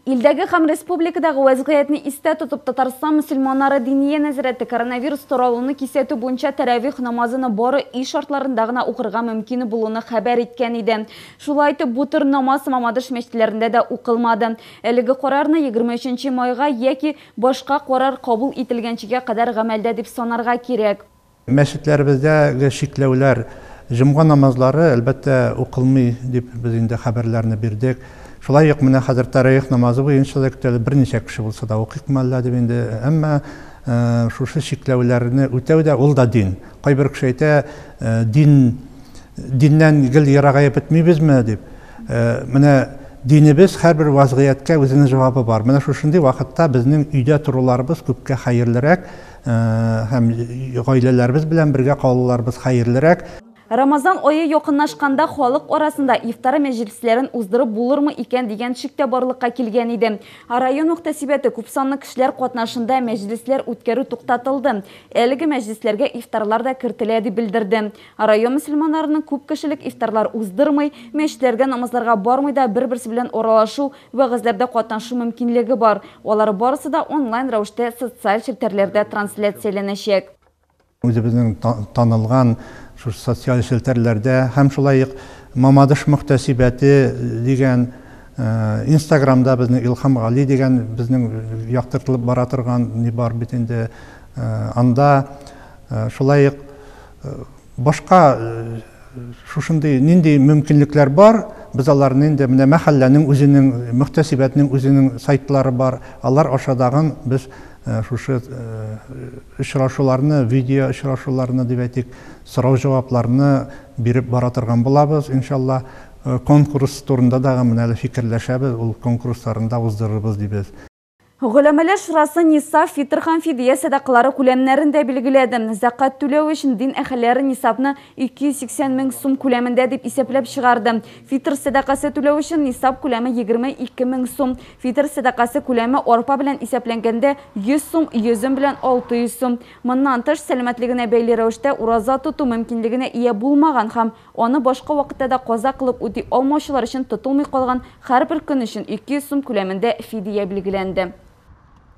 Илдәге һәм республикадагы вәзгыятьне истә тотып, Татарстан мөселманнары Диния нәзарәте коронавирус таралуны кисәтү буенча тәравих намазыны бары өй шартларында гына укырга мөмкин булуны хәбәр иткән иде. Шулай итеп, бу төр намаз Мамадыш мәчетләрендә дә укылмады. Әлеге карарны 23 майга яки башка карар кабул ителгәнчегә кадәр гамәлдә дип санарга кирәк. Мәчетләребездәге чикләүләр, җомга намазлары, әлбәттә, укылмый, дип без инде хәбәрләрне бирдек. Шулай ук менә хәзер тәраих намазы буенча да көтәләр, берничә кеше булса да укыйкмы әллә дип инде. Әмма шушы чикләүләрне үтәү дә, ул да дин. Кайбер кеше әйтә, дин, диннән гел ерагаеп бетмибезме, дип. Менә динебез һәрбер вазгыятькә үзенең җавабы бар. Менә шушындый вакытта безнең өйдә торуларыбыз күпкә хәерлерәк. Һәм гаиләләребез белән бергә калуларыбыз хәерлерәк. Рамазан ае якынлашканда халык арасында ифтар мәҗлесләрен уздырып булырмы икән дигән шик тә барлыкка килгән иде. Район мөхтәсибәте күпсанлы кешеләр катнашында мәҗлесләр үткәрү туктатылды. Әлеге мәҗлесләргә ифтарлар да кертелә, дип белдерде. Район мөселманнарының күп кешелек ифтарлар уздырмый, мәчетләргә намазларга бармый да бер-берсе белән аралашу, Вәгазьләрдә катнашу мөмкинлеге бар. Алар барысы да онлайн рәвештә социаль челтәрләрдә трансляцияләнәчәк. Үзебезнең танылган шушы социаль челтәрләрдә һәм шулай ук Мамадыш мөхтәсибәте дигән инстаграмда безнең Илһам Гали дигән безнең яктыртылып бара торган ни бар бит инде анда шулай ук Башка шушындый нинди мөмкинлекләр бар, без аларны инде менә мәхәлләнең үзенең, мөхтәсибәтнең үзенең сайтлары бар, алар аша тагын без шушы очрашуларны, видео очрашуларны дип әйтик, сорау-җавапларны биреп бара торган булабыз, иншалла. Конкурс турында да менә әле фикерләшәбез, ул конкурсларын да уздырырбыз дибез. Голәмәләр шурасы нисап, фитр һәм фидия сәдакалары күләмнәрен дә билгеләде. Зәкат түләү өчен дин әһелләре нисапны 280 мең сум күләмендә дип исәпләп чыгарды. Фитр сәдакасы түләү өчен нисап күләме 22 мең сум. Фитр сәдакасы күләме арпа белән исәпләнгәндә 100 сум, йөзем белән 600 сум. Моннан тыш, сәламәтлегенә бәйле рәвештә ураза тоту мөмкинлегенә ия булмаган һәм, Аны башка вакытта да каза кылып үти алмаучылар өчен тотылмый калган һәрбер көн өчен 200 сум күләмендә фидия билгеләнде.